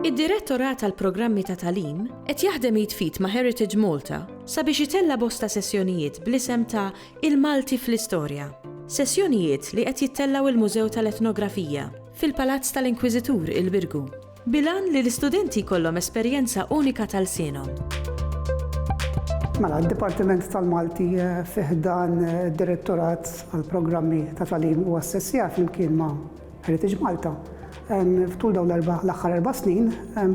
Id-Direttorat għall-Programmi ta' Tagħlim qed jaħdem id f'id ma' Heritage Malta sabiex itella' bosta sessjonijiet bl-isem ta' Il-Malti fl-Istorja. Sessjonijiet li qed jittellgħu il-Mużew tal-Etnografija, fil-Palazz tal-Inkwiżitur il-Birgu. Bil-għan li l-istudenti jkollhom esperjenza unika ta' lsienhom. Mela, d-Dipartiment tal-Malti eh, fi ħdan eh, direttorat għal-programmi ta' talim u assessja flimkien ma' Heritage Malta. Ftul dawn l-aħħar erba' snin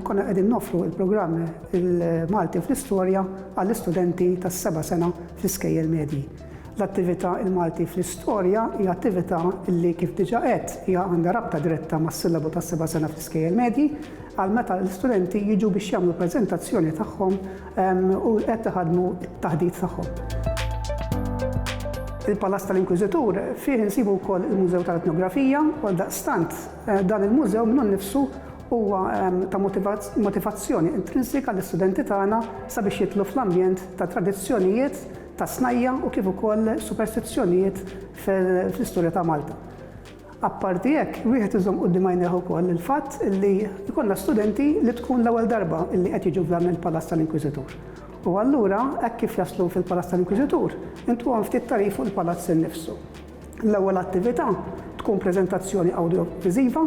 konna qegħdin nofru il-programm il-Malti fl-istorja għall-istudenti tas-seba' sena fl-iskejjel medji. L-attività Il-Malti fl-Istorja hija attività li, kif diġà għedt, hija għandha rabta diretta mas-sillabu tas-seba' sena fl-iskejjel medji għal meta l-istudenti jiġu biex jagħmlu l-preżentazzjoni tagħhom u qed iħaddmu t-taħdit tagħhom. Il-Palazz tal-Inkwiżitur fih insibu wkoll il-Mużew tal-Etnografija u għaldaqstant dan il-mużew minnu nnifsu huwa ta' motivazzjoni intrinsika għall-istudenti tagħna sabiex jidħlu fl-ambjent ta' tradizzjonijiet ta' snajja' u kif ukoll superstizzjonijiet fl-istorja ta' Malta. Apparti hekk, wieħed iżomm quddiem għajnejh ukoll il-fatt li jkollna studenti li tkun l-ewwel darba li qed jiġu f'dan il-Palazz tal-Inkwiżitur. U allura, hekk kif jaslu fil-Palazz tal-Inkwiżitur, intuhom ftit tagħrif fuq il-Palazz innifsu. L-ewwel attività tkun preżentazzjoni awdjoviżiva.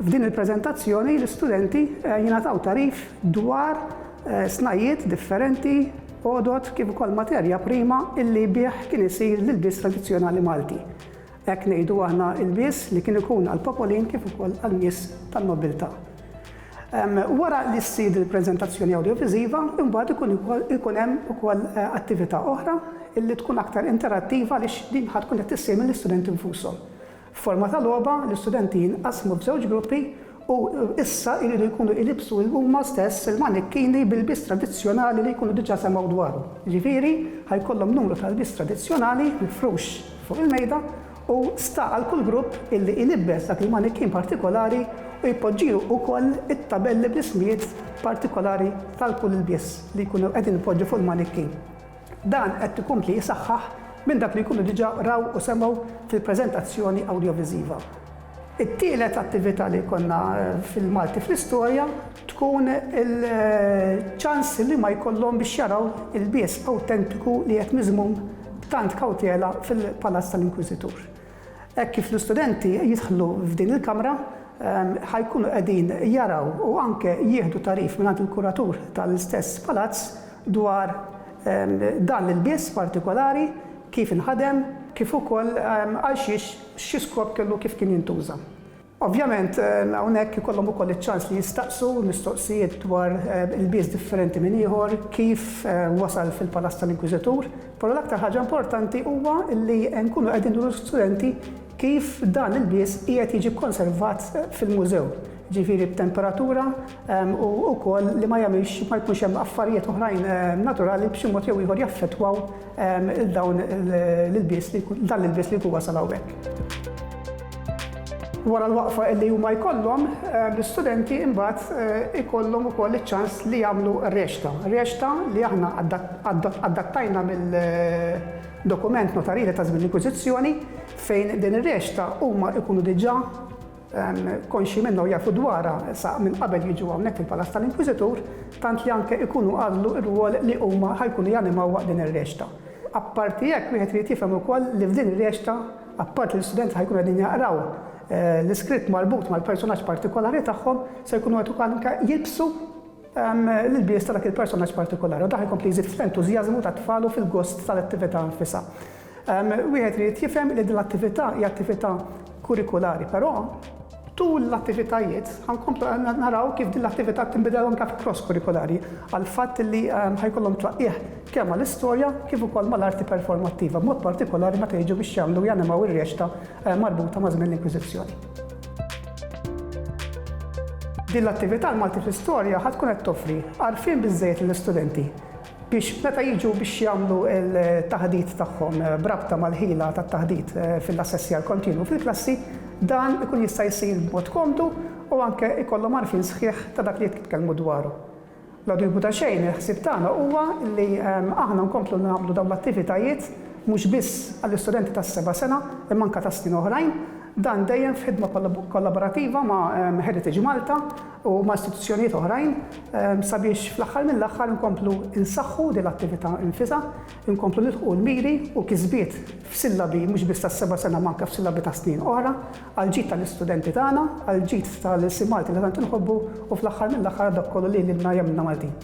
F'din il-preżentazzjoni l-istudenti jingħataw tagħrif dwar snajjiet differenti, għodod kif ukoll materja prima illi bih kien isir l-ilbies tradizzjonali Malti. Hekk ngħidu aħna ilbies li kien ikun għall-popolin kif ukoll għan-nies tan-nobbiltà. Wara li ssir il-preżentazzjoni awdjoviżiva, imbagħad ikun ukoll ikun hemm ukoll attività oħra li tkun aktar interattiva għaliex din ħa tkun qed issir mill-istudenti nfushom. F'forma ta' logħba, l-istudenti jinqasmu f'żewġ gruppi u issa jridu jkunu jlibbsu huma stess il-manikkini b'ilbies tradizzjonali li jkunu diġà semgħu dwarhom. Jiġifieri, ħa jkollhom numru ta' lbies tradizzjonali mifrux fuq il-mejda u sta għal kull grupp illi ilibbes dak il-manikin partikolari u jpoġġilu ukoll it-tabelli bl-ismijiet partikolari tal kull ilbies li jkunu qegħdin ipoġġu fuq il-manikin. Dan qed ikompli jisaħħaħ minn dak li jkunu diġa raw u semgħu fil-preżentazzjoni awdjoviżiva. It-tielet attivita li jkollna fil-Malti fl-Istorja. tkun il-ċans li ma jkollhom biex jaraw il-bies awtentiku li qed miżmum b'tant kawtela fil-Palazz tal-Inkwiżitur. Hekk kif l-istudenti jidħlu f'din il-kamra, ħa jkunu qegħdin jaraw u anke jieħdu tagħrif mingħand il-kuratur tal-istess palazz dwar dan l-ilbies partikolari, kif inħadem, kif ukoll għal xiex, xi skop kellu kif kien jintuża. Ovvjament, hawnhekk ikollhom ukoll iċ-ċans li jistaqsu mistoqsijiet dwar ilbies differenti minn ieħor, kif wasal fil-palazz tal-Inkwiżitur, però l-aktar ħaġa importanti huwa li nkunu qegħdin nuru l-istudenti kif dan l-ilbies qiegħed jiġi kkonservat fil-mużew, ġifieri b'temperatura u wkoll li ma jagħmilx ma jkunx hemm affarijiet oħrajn naturali b'xi mod jew ieħor jaffettwaw 'l dawn l-ilbies li jkun, dan l-ilbies li jkun wasal hawnhekk. Wara l-waqfa li huma jkollhom, l-istudenti imbagħad ikollhom ukoll iċ-ċans li jagħmlu r-recta. Recta li aħna adattajna mill-dokument notarili ta' żmien l-inkwiżizzjoni fejn din ir-recta huma jkunu diġà konxji minnha u jafu dwarha sa minn qabel jiġu hawnhekk fil-Palas tal-Inkwiżitur, tant li anke jkunu għażlu r-rwol li huma ħa jkunu janimaw waqt din ir-reċta. Apparti hekk, wieħed irid jifhem ukoll li f'din ir-reċta, apparti li l-istudenti ħa jkunu qegħdin jaqraw l-iskritt marbut mal-personaġġ partikolari tagħhom, se jkunu qed ukoll anke jilbsu l-ilbies ta' dak il-personaġġ partikolari u dan ħa jkompli jżid fl-entużjażmu tat-tfal u fil-gost tal-attività nfisha. Wieħed irid jifhem li din l-attività hija attività kurikulari, però tul l-attivitajiet ħa nkomplu naraw kif din l-attività tinbidel anke fi cross kurikulari għall-fatt li ħa jkollhom tlaqqigħ kemm mal-istorja kif ukoll mal-arti performattiva, b'mod partikolari meta jiġu biex jagħmlu u janimaw ir-reċta marbuta ma' żmien l-Inkwiżizzjoni. Din l-attività l-Malti fl-Istorja ħa tkun qed toffri għarfien biżżejjed lill-istudenti biex meta jiġu biex jagħmlu l-taħdit tagħhom b'rabta mal-ħila tat-taħdit fil-assessjar kontinwu fil-klassi, dan ikun jista' jsir b'mod komdu u anke jkollhom għarfien sħiħ ta' dak li qed jitkellmu dwaru. Bla dubju ta' xejn, il-ħsieb tagħna huwa li aħna nkomplu nagħmlu dawn l-attivitajiet mhux biss għall-istudenti tas-seba' sena imma anke ta' snin oħrajn, dan dejjem f'ħidma kollaborattiva ma' Heritage Malta, u ma' istituzzjonijiet oħrajn sabiex fl-aħħar mill-aħħar inkomplu nsaħħu din l-attività nfisha, inkomplu nilħqu l-miri u kisbiet f'sillabi mhux biss tas-seba' sena imma anke f'sillabi ta' snin oħra, għall-ġid tal-istudenti tagħna, għall-ġid tal-ilsien Malti li tant inħobbu u fl-aħħar mill-aħħar għal dak kollu li lilna jagħmilna Maltin.